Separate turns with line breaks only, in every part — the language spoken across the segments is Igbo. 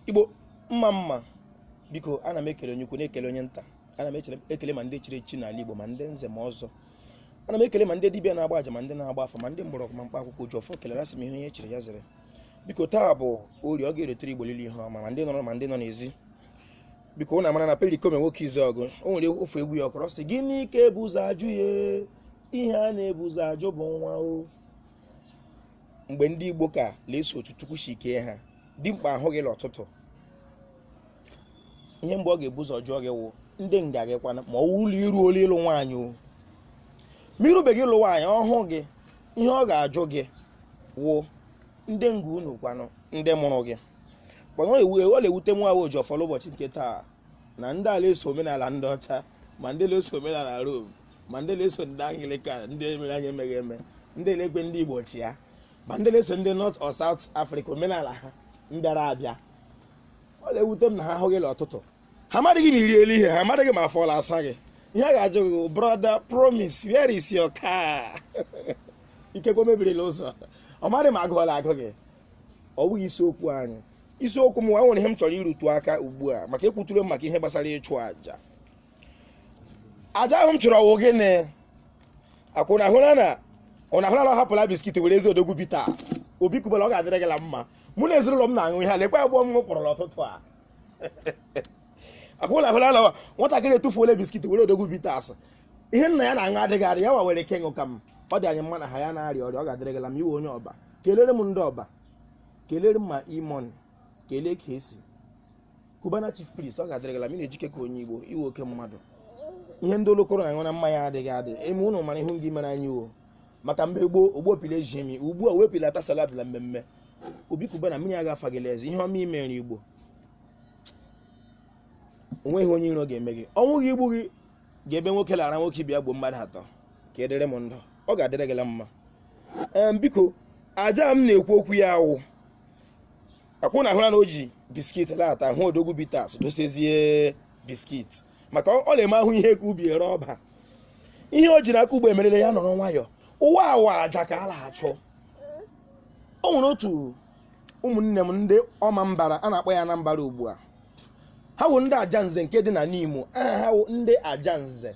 igbo mma mma biko ana m ekele onye ukwu na-ekele onye nta ana m ekele ma ndị chiri echi n'ala igbo ma ndị nze ma ọzọ ana m ekele ma ndị dibịa na-agba aja ma ndị na-agba afa ma ndị mgbọrọgwụ ma mkpa akwụkwọ oji ọfọ kelere asị m ihe onye chiri ya zere biko taa bụ orie ọ ga-eritere igbo liile ihe ọma ma ndị nọ ụlọ ma ndị nọ n'ezi biko ụnụ amara na perikoma nwoke izuọgụ o nwere ofu egwu ya ọ kụrụ sị gịnị ka e bu ụzọ ajụ ya ihe a na-ebu ụzọ ajụ bụ nwa o mgbe ndị igbo ka la-eso otu chukwu si kee ha dimkpa ahụ gị n'ụtụtụ ihe mbụ ọ ga-ebu ụzọ jụọ gị wụ ndị nga gị kwanụ ma ọ wụrụ la i ruole ịlụ nwaanyị o ma i rubeghị ịlụ nwaanyị ọ hụ gị ihe ọ ga-ajụ gị wụ ndị nga unu kwanụ ndị mụrụ gị kwanụ ewu ọ na-ewute m nwa wụ oji ọfọ l'ụbọchị nke taa na ndị a la-eso omenala ndị ọcha ma ndị na-eso omenala Rom ma ndị na-eso ndị Anglikan ndị mere anyị emeghị eme ndị na-ekwe ndị Igbo chịa ma ndị na-eso ndị North or South Africa omenala ha mbịara abịa ọ na-ewute m na ha hụ gị n'ụtụtụ ha amadịghị ma i riela ihe ha amadịghị ma afọ la-asa gị ihe a ga-ajụ gị brother promise where is your car ikekwe o mebiri la ụzọ ọ madị ma agụụ ọ la-agụ gị ọ bụghị isiokwu anyị isiokwu m nwa nwere ihe m chọrọ irutu aka ugbu a maka ekwuture m maka ihe gbasara ịchụ aja aja ahụ m chụrụ ọ wụ gịnị akwa ụnụ hụra na ọ hapụla biskit werezie odogwu bitters obi cubana ọ ga-adịrị gị la mma mụ na ezinụlọ m na-aṅụ ihe a lekwa agbụọ m kpọrọ n'ụtụtụ a akwa ụnụ hụra na nwatakịrị etufuola biskit were odogwu bitters ihe nna ya na-aṅụ adịghị adị ya wa were ike ịṅụ ka m ọ dị anyị mma na ha ya na-arịa ọrịa ọ ga-adịrị gị la mma ị wụ onye ọba kelere m ndị ọba kelere m ma e-money kelee kcee cubana chief priest ọ ga-adịrị gị la mma ị na-ejike ka onye igbo ị wụ oke mmadụ ihe ndị olokoro na-aṅụ na mmanya adịghị adị eme ụnụ mara ihu gị mere anyị o maka mgbe gboo ogbo pile ji emi ugbu a wee pilata salad na mmemme obi cubana mmiri aga afa gị l'ezi ihe ọma i meere igbo onweghị onye iro ga-eme gị ọnwụ ga-egbu gị gaa ebe nwoke la-ara nwoke ibe ya gbuo mmadụ atọ ka ị dịrị m ndụ ọ ga-adịrị gị la mma Em, biko aja m na-ekwu okwu ya a wụ akwa ụnụ hụra na o ji biskit later hụ odogwu bitters dosezie biskit maka ọ ọ na-eme ahụ ihe ka ubi ere ọba ihe o ji n'aka ugbu a emerela ya nọrọ nwayọ ụwa a wụ aja ka a na-achụ o nwere otu ụmụnne m ndị ọma mbara a na-akpọ ya na mbara ugbu a ha wụ ndị ajanze nke dị na n'imo aha ha wụ ndị ajanze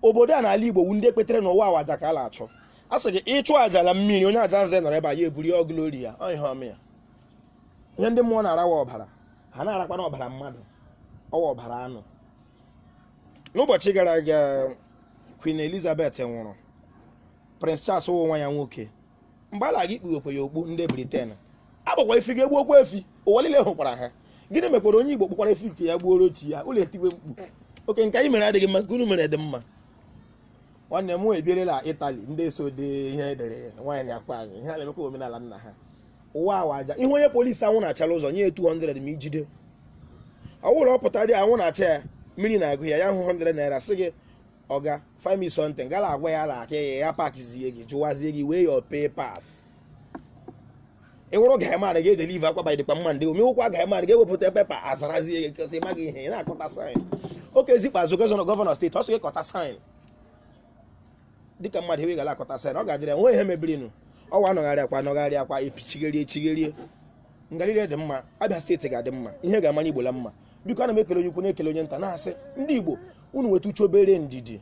obodo a n'ala igbo wu ndị kwetere na ụwa a wụ aja ka a na-achụ a sị gị ịchụ aja na mmiri onye ajanze nọrọ ebe a ya eburu ya ọgụlori ya ọ ihe ọma ya ihe ndị mmụọ na-arawa ọbara ha na-arakwana ọbara mmadụ ọ wụ ọbara anụ n'ụbọchị gara aga Queen Elizabeth nwụrụ Prince Charles wụ nwa ya nwoke mgbe a na-aga ikpukwe ya okpu ndị briten agbakwa efi gaa gbuokwa efi ụwa niile hụkwara ha gịnị mekwara onye igbo kpụkwara efi ka ya gbuoro chi ya unu etiwe mkpu okay nke anyị mere adịghị mma nke unu mere dị mma nwanne m ebierela itali ndị so dị ihe e dere nwaanyị akpa anyị ihe a na-emekwa omenala nna ha ụwa awa aja ị hụ onye polisi anwụ na-acha n'ụzọ nye 200 ma ijide ọ wụ la ọ pụtadị anwụ na-acha ya mmiri na-agụ ya ya hụ 100 naira sị gị ọga find me something gala agwa ya na aka ya ya pakizie gị jụwazie gị where your papers ị wụrụ guy man gị edelivakwa by dịkwa mma ndị omewụkwa guy man gị ewepụta pepa azarazie gị kọsị ị maghị ihe ị na-akọta saịn okezie ikpeazu gọvanọ gọvanọ steeti ọ sị gị kọta saịn dịka mmadụ ewe gara akọta saịn ọ ga-adịrị ya nwe ihe mebirinụ ụwa a nọgharịakwa a nọgharịakwa epichigherie echigherie ngarịrị dị mma abịa steeti ga-adị mma ihe ga-amara igbo la mma biko ana m ekele onye ukwu na-ekele onye nta na-asị ndị Igbo unu nweta uche obere ndidi